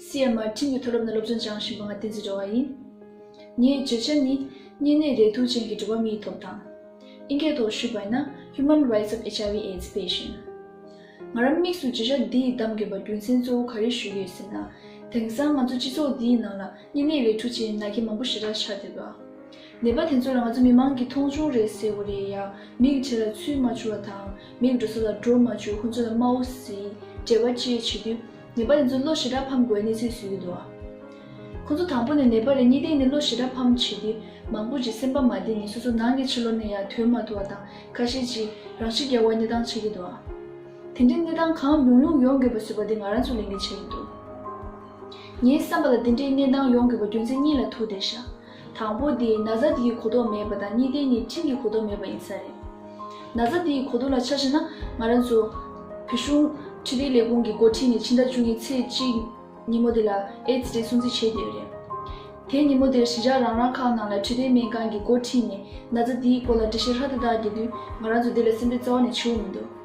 CMR ཁྲིམས་ཀྱི་མཐོ་སློབ་ནས་སློབ་སྦྱོང་སྦྱངས་བཞིན་པ་ང་བསྟན་འཛིན་འགྲོ་བ་ཡིན། ངའི་བརྗོད་བྱ་ནི། གཉན་ནད་རེག་དུག་ཅན་གྱི་འགྲོ་བ་མིའི་ཐོབ་ཐང། ཨིན་སྐད་ཐོག་ཞུས་པ་ན Human Rights of HIV Aids Patient། ང་རང་དམིགས་སུ་བརྗོད་བྱ་འདི་ཡིས་གདམ་དགོས་པ་རྒྱུ་མཚན་གཙོ་བོ་ག་རེ་ཞུས་ཡོད་ཟེར་ན། དེང་སང་ང་ཚོ་སྤྱི་ཚོགས་འདིའི་ནང་ལ་གཉན་ནད་རེག་དྲུག་ཅན་ན་གྱི་མང་པོ་ཞེ་དྲག་ཆགས་བསྡད་པ། ནད་པ་དེ་ཚོ་ལ་ང་ཚོ་མི་མང་གིས་མཐོང་ཆུང་རེད་ཟེར་བ་རེད་ཡ། མིག་བྱས་ལ་ཚུལ་མ་བྱུང་བ་དང་མིག་འགྲོ་ས་ལ་འགྲོ་མ་བྱུང་ཁོ་ཚོ་ལ་སྨྲ་བོ་ཟིའི་འབྲེལ་བ་བཅས་བྱེད་དུས། ནེ་པ་ལི་ཚོ་གློ་ཞེ་དྲག་ཕམ་དགོས་གནས་ཚུལ་ཟིན་ཡོད་དོ། ཁོ་ཚོ་དང་པོ་ནས་ནེ་པ་ལི་གཉིས་ལྡན་ནི་གློ་ཞེ་དྲག་ཕམ་བྱེད་དེ་མང་པོ་ཅིག་སེམས་པ་མ་བདེ་ནས་སོ་སོ་ནང་གི་ཕྱི་ལོག་ནས་ཡང་དོན་མ་ཐུ་བ་དང་ཁ་ཤས་ཀྱིས་རང་ཤི་རྒྱག་བར་གནས་སྟངས་ཆགས་ཀྱི་འདུག་ཨ། དེ་འདྲའི་གནས་སྟངས་གང་ཡོང་ཡོང་ཡོང་དགོས་པ་བཟོས་པ་དེ་ང་རང་ཚོས་ལས་འགན་ཆགས་ཀྱི་འདུག། ངའི་བསམ་པ་ལ་དེ་འདྲའི་གནས་སྟངས་ཡོང་དགོས་པ་རྒྱུ་མཚན་གཉིས་ལ་ཐུག་བསྡད་ཤག། དང་པོ་དེ་ན་བཟའ་དེ་ཡི་གོ་རྟོགས་མེད་པ་དང་གཉིས་ཏེ་ནི་ཁྲིམས་ཀྱི་གོ་རྟོགས་མེད་པ་ཡིན་ས་རེད། ན་བཟའ་དེ་ཡི་གོ་རྟོགས་ལ་ཆ་བཞི་ན་ང་རང་ཚོ། བོད་གཞུང། ཁྲི་ལྡེ་ལས་ཁུངས་ཀྱི་འགོ་ཁྲིད་ནས་ཕྱི་ཟླ་བཅུ་གཉིས་ཚེས་གཅིག། ཉིན་མོ་དེ་ལ་ཨེདས་རེད་སྲུང་བརྩི་བྱས་ཡོད་རེད། དེ་ཉིན་མོ་དེར་གཞིས་ཆགས་རང་རང་ཁག་ནང་ལ་ཁྲི་ལྡེ་སྨན་ཁང་གི་འགོ་ཁྲིད་ནས་ན་བཟའ་དེ་ཡི་སྐོར་ལ་འདྲི་བཤེར་ཧ་ཏུ་ཏག་བགྱིས་དུས་ང་རང་ཚོ་དེ་ལ་སེམས་ཁྲལ་རྩ་བ་ནས་ཆེ་བོ་མི་འདུག།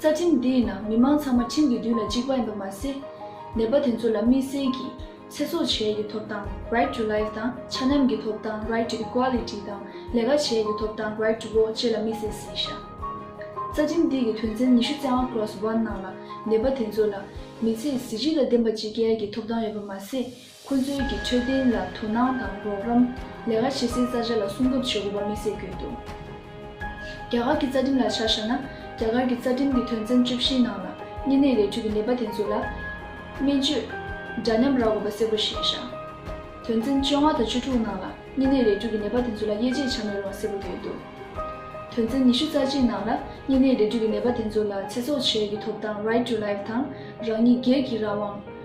རྩ་ཁྲིམས་འདིའི་ནང་མི་མང་ཚང་མ་ཁྲིམས་ཀྱི་མདུན་ལ་གཅིག་པ་ཡིན་པ་མ་ཟད། ནད་པ་དེ་ཚོ་ལ་དམིགས་བསལ་གྱིས་ཚེ་སྲོག་བྱེད་རྒྱུའི་ཐོབ་ཐང Right to Life དང་ཆ་མཉམ་གྱི་ཐོབ་ཐང Right to Equality དང་ལས་ཀ་བྱེད་རྒྱུའི་ཐོབ་ཐང Right to Vote བཅས་ལ་དམིགས་བསལ་གཟིགས་ཞག་རྩ་ཁྲིམས་འདིའི་གི་དོན་ཚན་ཉི་ཤུ་རྩ་ལྔ Clause One ནང་ལ་ནད་པ་དེ་ཚོ་ལ་མི་ཚེའི་གཟི་བརྗིད་ལ་ལྡན་པ་བྱེད་རྒྱལ་གྱི་ཐོབ་ཐང་ཡོད་པ་མ་ཟད་ཁོ་ཚོའི་གི་འཕྲོད་བསྟེན་ལ་དོ་སྣང་དང་རོགས་རམ། ལས་ཀ་བྱེད་སའི་རྩ་ཆ་ལ་སྲུང་སྐྱོབ་བྱེད་དགོས་པ་དམིགས་བསལ་བརྗོད་འདུག་རྒྱ་གར་གྱི་རྩ་ཁྲིམས་ལ་ཆ་བཞག་ན། རྒྱ་གར་གྱི་རྩ་ཁྲིམས་ཀྱི་དོན་ཚན་བཅུ་བཞིའི་ནང་ལ་གཉན་ནད་ལས་འཕྲོས་ཀྱི་ནད་པ་དེ་ཚོ་ལ། སྨན་བཅོས། འདྲ་མཉམ་རག་དགོས་པ་གསལ་པོ་བཞེས་བཞག། དོན་ཚན་བཅོ་ལྔ་དང་བཅུ་དྲུག་ནང་ལ་གཉན་ནད་ལས་འཕྲོས་ཀྱི་ནད་པ་དེ་ཚོ་ལ་དབྱེ་འབྱེད་བྱ་མི་རུང་བ་གསལ་པོ་བརྗོད་འདུག་དོན་ཚན་ཉི་ཤུ་རྩ་གཅིག་ནང་ལ་གཉན་ནད་ལས་འཕྲོས་ཀྱི་ནད་པ་དེ་ཚོ་ལ་ཚེ་སྲོག་བཅས་ཀྱི་ཐོབ་ཐང Right to Life དང་རང་ཉིད་སྒེར་གྱི་རང་དབང་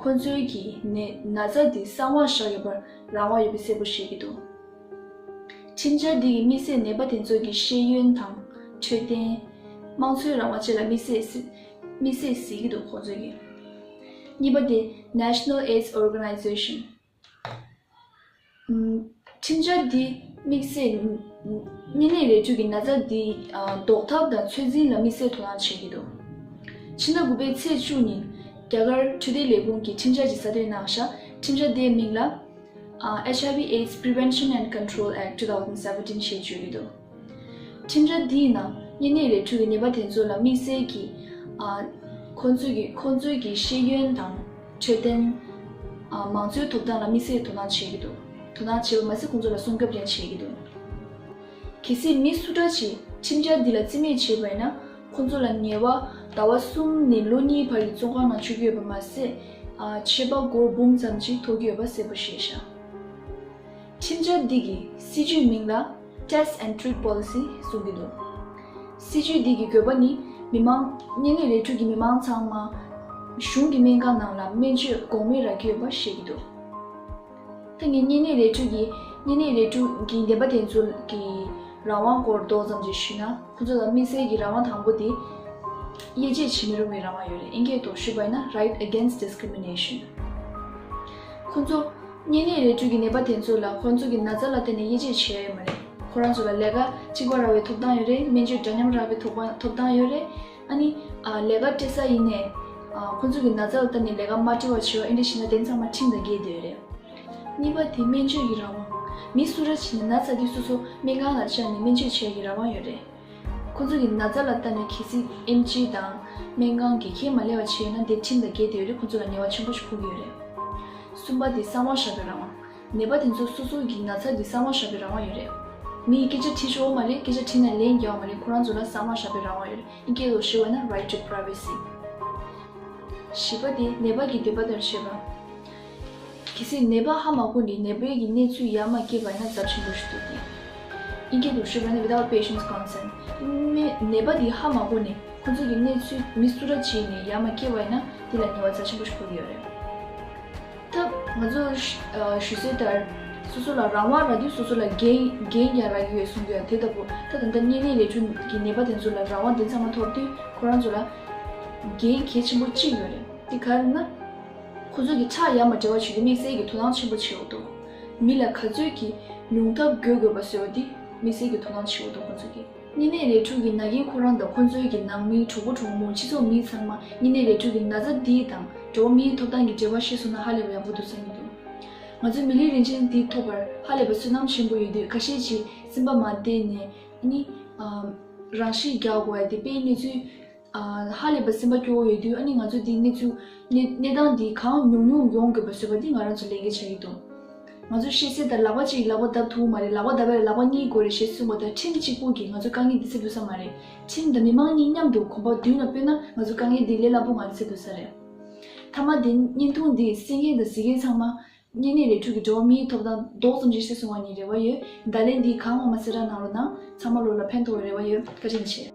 ཁོ་ཚོའི་གི་ནས་ན་བཟའ་འདི་གསང་བར་བཞག་ཡོད་པར་རང་དབང་ཡོད་པའི་གསལ་པོ་བཤད་ཀྱི་འདུག་ཁྲིམས་འཆར་འདི་གི་དམིགས་བསལ་ནད་པ་དེ་ཚོ་གི་ཤེས་ཡོན་དང། འཕྲོད་བསྟེན། དམངས་འཚོའི་རང་དབང་བཅས་ལ་དམིགས་བསལ། དམིགས་བསལ་ཟེར་གྱི་འདུག་ཁོ་ཚོའི་གི། གཉིས་པ་དེ National Aids Organization། ཁྲིམས་འཆར་འདི་དམིགས་བསལ་གཉན་ནད་ལས་བྱུང་གི་ན་ཚ་འདི་ཟློག་ཐབས་དང་ཚོད་འཛིན་ལ་དམིགས་བསལ་དོ་སྣང་བྱེད་ཀྱི་འདུག་ཕྱི་ཟླ་དགུ་པའི་ཚེས་བཅུ་ཉིན་རྒྱ་གར་འཕྲོད་བསྟེན་ལས་ཁུངས་ཀྱིས་ཁྲིམས་འཆར་གྱི་གསར་གཏོད་གནང། ཁྲིམས་འཆར་དེའི་མིང་ལ། HIV, AIDS Prevention and Control Act two thousand seventeen ཞེས་བརྗོད་ཀྱི་འདུག། ཁྲིམས་ར་འདིའི་ནང་གཉན་ནད་ལས་འཁྲུག་གི་ནད་པ་དེ་ཚོ་ལ་དམིགས་བསལ་གྱིས་ཁོ་ཚོའི་གྱི་ཤེས་ཡོན་དང་འཕྲོད་བསྟེན། མང་གཙོའི་ཐོབ་ཐང་ལ་དམིགས་བསལ་དོ་སྣང་བྱེད་ཀྱི་འདུག་དོ་སྣང་བྱས་པ་མ་ཟད་ཁོ་ཚོ་ལ་སྲུང་སྐྱོབ་ཀྱང་བྱེད་ཀྱི་འདུག་གལ་སྲིད་མི་སུ་འདྲ་ཞིག་ཁྲིམས་ར་འདི་ལ་བརྩི་མེད་བྱེད་པས་ན་ཁོ་ཚོ་ལ་ཉེ་བ་ཟླ་བ་གསུམ་ནས་ལོ་གཉིས་བར་གྱི་བཙོན་ཁང་ནང་བཅུག་ཡོད་པ་མ་ཟད་ཆད་པ་སྒོར་འབུམ་ཙམ་ཅིག་ཐོགས་ཀྱི་ཡོད་པ་གསལ་པོ་ཤེས་བྱ། ཁྲིམས་ར་འདི་གི་སྲིད་ཇུས་མིང་ལ། Test and Treat Policy། གསུངས་ཀྱི་འདུག་སྲིད་ཇུས་འདི་ཀྱི་འགོད་པ་ནི་མི་དམངས། གཉེན་ལུས་ལས་དྲུག་གི་མི་དམངས་ཚང་མ། གཞུང་གི་སྨན་ཁང་ནང་ལ་སྨན་བཅོས་འགོག་མེད་རག་གི་ཡོད་པ་བཤད་ཀྱི་འདུག་ཐེངས་འདིའི་གཉེན་ལུས་ལས་དྲུག་གི་གཉེན་ལུས་ལས་དྲུག་གི་འདེམས་པ་དེ་ཚོ་གི་རང་དབང་སྐོར་མདོ་ཙམ་ཅིག་ཞུས་ན་ཁོ་ཚོ་ལ་དམིགས་བསལ་གྱི་རང་དབང་དང་པོ་དེ། དབྱེ་འབྱེད་བྱེད་མི་རུང་བའི་རང་དབང་ཡོད་རེད་ཨེ་འགས་དོགས་ཞུས་པ་ཡིན་ན Right Against Discrimination། ཁོ་ཚོ། གཉེན་ཉེ་རེ་བཅོལ་གྱི་ནད་པ་དེ་ཚོ་ལ་ཁོང་ཚོ་གྱི་ན་ཚ་ལ་བརྟེན་ནས་དབྱེ་འབྱེད་བྱེད་ཡ་ཡོད་མ་རེད། ཁོ་རང་ཚོ་ལ་ལས་ཀ་གཅིག་པ་རག་བའི་ཐོབ་ཐང་ཡོད་རེད་སྨན་བཅོས་འདྲ་མཉམ་རག་པའི་ཐོབ་ཐོབ་ཐང་ཡོད་རེད། ཨ་ནི། ལས་ཀ་སྤྲད་ས་ཡིན་ནས། ཁོང་ཚོ་གྱི་ན་ཚ་ལ་བརྟེན་ནས་ལས་ཀ་མ་སྤྲད་བར་བྱེད་བ་ཨེ་འདྲ་བྱས་ན་དེ་ཚང་མ་ཁྲིམས་དང་འགལ་འདོད་ཡོད་རེད། གཉིས་པ་དེ་སྨན་བཅོས་ཀྱི་རང་དབང། མི་སུ་ར་བྱས་ནས་ན་ཚ་དེ་སོ་སོ་སྨན་ཁང་ལ་བཅར་ནས་སྨན་བཅོས་བྱེད་ཡ་གྱི་རང་དབང་ཡོད་རེད། ཁོ་ཚོ་གི་ན་བཟའ་ལ་ལྟ་ན་གལ་སྲིད་ཨེམ་ཆི་དང་སྨན་ཁང་གིས་ཁས་མ་ལེན་བ་བྱས་ན་འདིར་ཁྲིམས་དང་འགལ་ཏེ་ཡོད་རེད་ཁོ་ཚོ་ལ་ངལ་བ་ཆེན་པོ་ཞིག་ཕོག་གི་ཡོད་རེད། གསུམ་པ་དེ་གསང་བ་བཞག་པའི་རང་དབང། ནད་པ་དེ་ཚོ་སོ་སོ་གི་ན་ཚ་དེ་གསང་བ་བཞག་པའི་རང་དབང་ཡོད་རེད། མི་ཡི་སྐད་ཆ་དྲིས་ཆོག་མ་རེད་སྐད་ཆ་དྲིས་ན་ལན་རྒྱག་མ་རེད་ཁོ་རང་ཚོ་ལ་གསང་བ་བཞག་པའི་རང་དབང་ཡོད་རེད་ཨིན་སྐད་ལོག་ཤེས་བ་ན Right to Privacy། བཞི་པ་དེ་ནད་པ་གི་འདོད་པ་ལྟར་བྱེད་པ། གལ་སྲིད་ནད་པ་ཧ་མ་གོ་ནས་ནད་པའི་གི་གནས་ཚུལ་ཡར་མ་སྐྱེས་པ་ན་རྫབ་ཆེན་པོ་ཞིག་འདུག་གི། ཨིན་སྐད་དུ་ཤོད་པ་ན without patient's consent ནད་ནད་པ་དེ་ཧ་མ་གོ་ནས་ཁོ་ཚོའི་གི་གནས་ཚུལ་མི་སུ་ར་བྱས་ནས་ཡར་མ་སྐྱེས་བ་ཡིན་ན་དེ་ལ་ཉེས་བ་རྫ་ཆེན་པོ་ཞིག་ཕོག་གི་ཡོད་རེད། ཐབས། ང་ཚོས་ཞུས་སྲོལ་ལྟར། སོ་སོ་ལ་རང་དབང་རག་དུས་སོ་སོ་ལ་འགན་འགན་ཀྱང་རག་གི་ཡོད་གསུང་གི་ཡོད་དེ་ལྟ་བུ་ད་དང་ད་གཉན་ནད་ལས་འབྱུང་གི་ནད་པ་དེ་ཚོ་ལ་རང་དབང་དེ་ཚང་མ་ཐོབ་དུས་ཁོ་རང་ཚོ་ལ་འགན་གལ་ཆེན་པོ་གཅིག་ཡོད་རེད་དེ་ག་རེད་ན། ཁོ་ཚོས་ཀྱི་ཁྲག་ཡར་མར་འདྲེས་པ་བྱུས་ཏེ་དམིགས་བསལ་གྱི་དོ་སྣང་ཆེན་པོ་བྱེད་འོག་ཏུ། མི་ལ་ག་ཚོད་ཀྱིས་ཉུང་ཐབས་དགོས་དགོས་པ་བཟོས་པ་འདི་དམིགས་བསལ་གྱི་དོ་སྣང་བྱེད་འོག་ཏུ་ཁོ་ཚོས་ཀྱི། གཉིས་ནས་རས་ཕྲུག་གི་ན་རྒན་ཁོ་རང་དང་ཁོ་ཚོའི་གྱི་ནང་མིའི་གྲོགས་པོ་གྲོགས་མོ་སྤྱི་ཚོགས་མི་ཚང་མ་གཉིས་ནས་རས་ཕྲུག་གི་ན་ཚ་འདི་དང་འགྲོ་བ་མིའི་ཐོབ་ཐང་གི་འབྲེལ་བ་ཤེས་སོང་ན་ཧ་ལས་པ་ཡག་པོ་འདུག་བསམ་གྱི་འདུག་ང་ཚོའི་མི་ལུས་རིན་ཆེན་འདི་ཐོབ་པར་ཧ་ལས་པ་སུན་སྣང་ཆེན་པོ་ཡོད་དུས་ཁ་ཤས་ཀྱིས་སེམས་པ་མ་བདེ་ནས་ནི། རང་ཤི་རྒྱག་དགོས་པ་དེ་དཔེའི་གནས་ཚུལ། ཧ་ལས་པ་སེམས་པ་སྐྱོ་བོ་ཡོད་དུས་ཨ་ནི་ང་ཚོས་འདི་གནས་ཚུལ། གནས་སྟངས་འདི་གང་མྱོང་མྱོང་ཡོང་དགོས་པ་བཟོས་པ་འདི་ང་རང་ཚོ་ལས་ཀའི་ཆ་ཡིན་འདུག་ང་ཚོས་ཤེས་གསལ་ལྟར་ལག་པ་གཅིག་གིས་ལག་པ་བརྡབ་ཐུབ་མ་རེད་ལག་པ་བརྡབ་པ་ལ་ལག་པ་གཉིས་དགོས་རེད་ཞེས་གསུངས་པ་ལྟར་ཁྲིམས་གཅིག་པུར་གྱིས་ང་ཚོས་དཀའ་ངལ་འདི་སེལ་དགོས་ས་མ་རེད་ཁྲིམས་དང་མི་མང་གཉིས་མཉམ་དུ་གོམ་པ་མདུན་ལ་སྤོས་ན་ང་ཚོ་དཀའ་ངལ་འདི་ལས་སླ་པོ་ངང་སེལ་དགོས་ས་རེད། མཐའ་མ་དེ་བརྙན་ཐུང་འདིས་སེང་གེ་དང་གཟིག་གེ་ཚང་མ་གཉན་ནད་ལས་འཁྲུགས་ཀྱི་འགྲོ་བ་མིའི་ཐོབ་ཐང་རྡོག་ཙམ་གཞིར་བྱས་སོང་བ་ནི་རེ་བ་ཡོད། བརྡ་ལན་འདིས་གང་འོང་མ་ཚེ་ར་ནང་རོ་གནང། ཚང་མ་ལོ་ལ་ཕན་ཐོགས་བའི་རེ་བ་ཡོད། བཀའ་དྲིན་ཆེ།